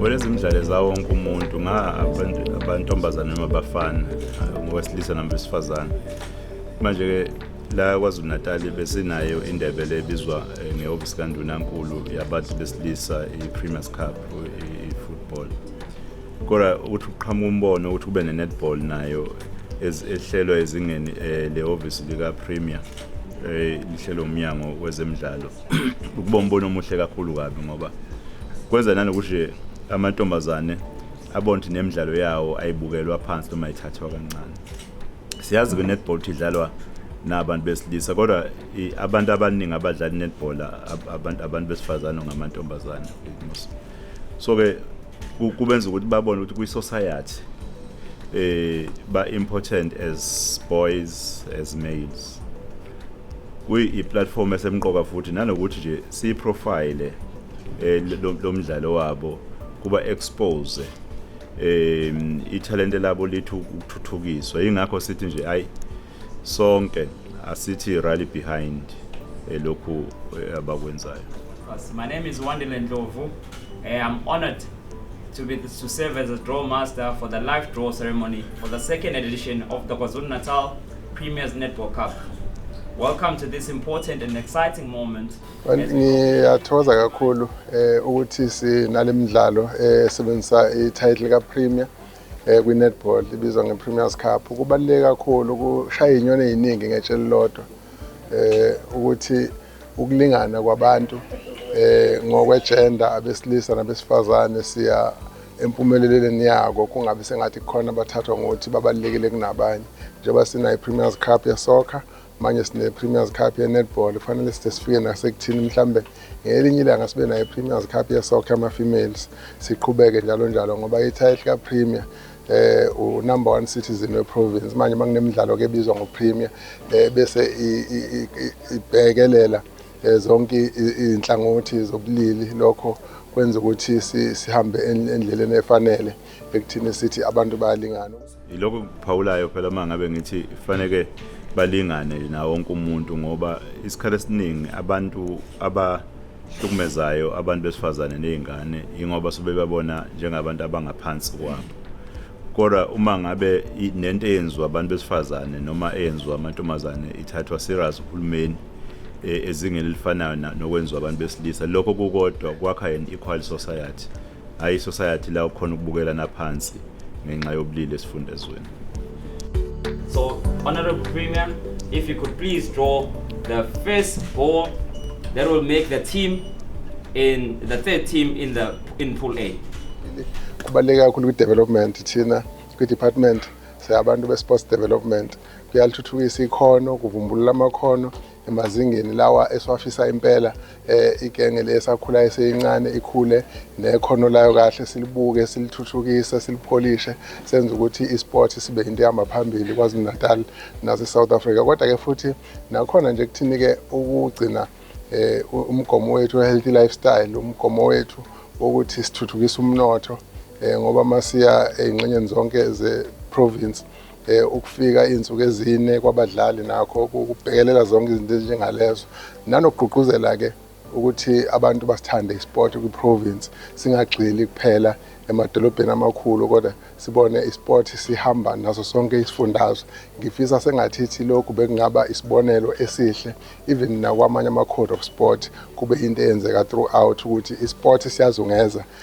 wenza imidlalo zawo wonke umuntu abantombazane noma abafana ngowesilisa noma besifazane manje-ke la kwazulu natali besinayo indebe le ebizwa eh, ngehhovisi kandunankulu yabantu besilisa i-premiers cup i-football kodwa ukuthi kuqhamuka umbono ukuthi kube ne-netball nayo ehlelwa ezingeni um eh, lehhovisi lika-premier um eh, lihlelwe umnyango wezemidlalo ukuba umbono omuhle kakhulu kabi ngoba kwenza nanokuthi amantombazane abone ukuthi nemidlalo yawo ayibukelwa phansi noma ithathwa kancane siyazi ke netball ukuthi idlalwa nabantu besilisa kodwa abantu abaningi abadlala netball abantu abantu besifazane ngamantombazane so ke kubenza ukuthi babone ukuthi kwi-society eh ba-important as boys as males kuyi-platform esemqoka futhi nanokuthi nje siyiprofile eh, lo mdlalo wabo kuba expose um ithalente labo lithi ukuthuthukiswa yingakho sithi nje ayi sonke asithi rally behind elokhu eh, abakwenzayo my name is Wandile Ndlovu eh, I'm honored to be to serve as a draw master for the live draw ceremony for the second edition of the KwaZulu-Natal Premier's Netball Cup Welcome to this important and exciting moment. Ngiyathokoza kakhulu eh ukuthi sinalemidlalo eh sebenzisa i-title ka-Premier eh, kwi-netball ibizwa nge-premiers cup kubaluleke kakhulu kushaya iy'nyoni ey'ningi ngetshe elilodwa um ukuthi ukulingana kwabantu um ngokwejenda abesilisa nabesifazane siya empumelelweni yako kungabi sengathi kukhona abathathwa ngokuthi babalulekile kunabanye njengoba sinayo i-premiers cup yesoccer manje sine-premiers cup ye-netball kufanele side sifike nasekuthini mhlawumbe ngelinye ilanga sibe nayo i-premiers cup ye-soccer ama-females siqhubeke njalo njalo ngoba i-title ka-premier eh unumber one citizen weprovince manje makunemidlalo ke ebizwa ngopremier eh bese ibhekelela eh, zonke izinhlangothi zobulili lokho kwenza ukuthi sihambe endleleni efanele ekuthini esithi abantu bayalingana yilokhu kuphawulayo phela uma ngabe ngithi faneke balingane nawo wonke umuntu ngoba isikhathi esiningi abantu aba hlukumezayo abantu besifazane nezingane ingoba sebebabona njengabantu abangaphansi kwabo kodwa uma ngabe nento eyenziwa abantu besifazane noma eyenziwa amantombazane ithathwa serious uhulumeni e, ezingeni elifanayo nokwenziwa abantu besilisa lokho kukodwa kwakha an equal society Ayi society la ukhona ukubukela naphansi ngenxa yobulili esifundazweni. So, honorable premier, if you could please draw the first ball that will make the team in the third team in the in pool A. Kubaluleke kakhulu kwi development thina kwi department sayabantu be sports development kuyalithuthukisa ikhono kuvumbulula amakhono emazingeni lawa esiwafisa impela eh igenge lesakhula eseyincane ikhule nekhono layo kahle silibuke silithuthukise silipholishe senze ukuthi isport sibe into ehamba phambili kwaZulu Natal nase South Africa kodwa ke futhi nakhona nje kuthini ke ukugcina eh umgomo wethu healthy lifestyle umgomo wethu ukuthi sithuthukise umnotho eh ngoba masiya ezinxenyeni zonke ze province eh ukufika izinsuku ezine kwabadlali nakho ukubhekelela zonke izinto ezinjengalezo nanokugqugquzela ke ukuthi abantu basithande isport kwiprovince singagxili kuphela emadolobheni amakhulu kodwa sibone isport sihamba naso sonke isifundazwe ngifisa sengathi ithi lokhu bekungaba isibonelo esihle even nakwamanye ama-code of sport kube into eyenzeka throughout ukuthi isport siyazungeza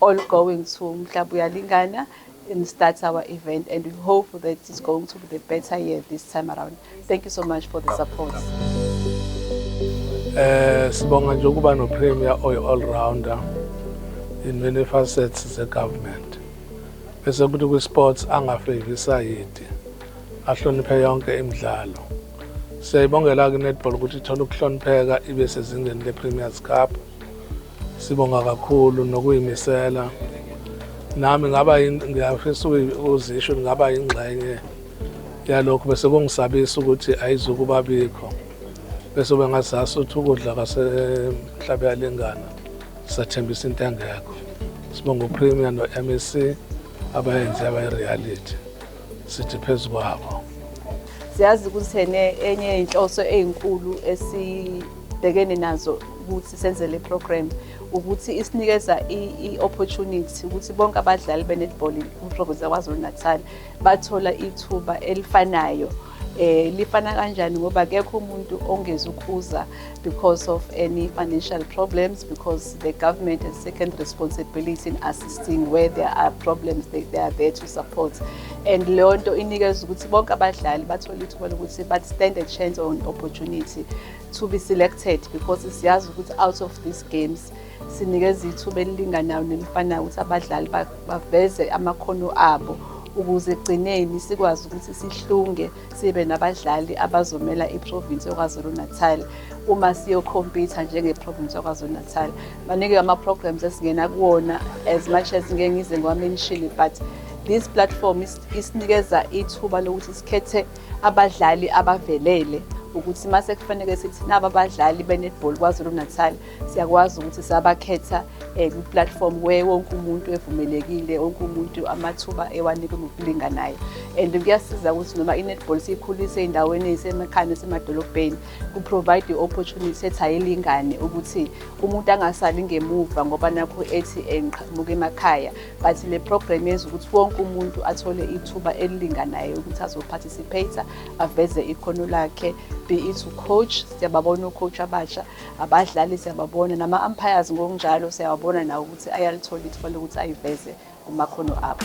all going to mhlawumbe uyalingana in start our event and we hope that it's going to be the better year this time around thank you so much for the support eh sibonga nje ukuba no premier oy all rounder in many facets the government bese kuthi kwi sports angafevisa yidi ahloniphe yonke imidlalo siyayibongela ke netball ukuthi ithola ukuhlonipheka ibe sezingeni le Premier's Cup Sibonga kakhulu nokuyimisela. Nami ngaba ngiyafisa ukuzisho ngaba ingxenye yalokho bese kungisabisa ukuthi ayizukuba bikho. Bese bengazazi ukuthi ukudla kwasemhlabe yalingana sathembisa into engekho. Sibonga uPremier no-MEC abayenze abayi-reality sithi phezu kwabo siyazi ukuthi enye inhloso ezinkulu esibhekene nazo ukuthi senze le program ukuthi isinikeza i-opportunity ukuthi bonke abadlali be-netball kumprovinsi yakwazulu-natal bathola ithuba elifanayo eh lifana kanjani ngoba kekho umuntu ongezi ukuza because of any financial problems because the government has second responsibility in assisting where there are problems they, they are there to support and leyo nto inikeza ukuthi bonke abadlali bathole ithuba lokuthi but stand a chance on opportunity to be selected because siyazi ukuthi out of these games sinikeza ithuba elilinganayo nelifanayo ukuthi abadlali baveze amakhono abo ukuze ekugcineni sikwazi ukuthi sihlunge sibe nabadlali abazomela iprovinsi yokwazulu-natal uma siyokhompitha njengeprovinsi yokwazulu-natal maningi ama-programs esingena kuwona as much as ngeke ngize ngiwamenishile but this platform isinikeza ithuba lokuthi sikhethe abadlali abavelele ukuthi uma sekufanele sithi naba abadlali be-netball kwazulu-natal siyakwazi ukuthi sabakhetha um eh, kwi-platform where wonke umuntu evumelekile wonke umuntu amathuba ewanikwe ngokulinganayo and kuyasiza ukuthi noma i-netball siyikhulise ey'ndaweni ey'semakhaya nasemadolobheni ku-provide i-opportunity ethi ayilingane ukuthi umuntu angasali ngemuva ngoba nakho ethi um ngiqhamuka emakhaya but le program yenza ukuthi wonke umuntu athole ithuba elilinganayo ukuthi azoparticipate aveze ikhono lakhe be it ucoach siyababona ucoach abasha abadlali siyababona nama-umpires ngokunjalo siyawabona nawo ukuthi ayalithola ithuba lokuthi ayiveze kumakhono abo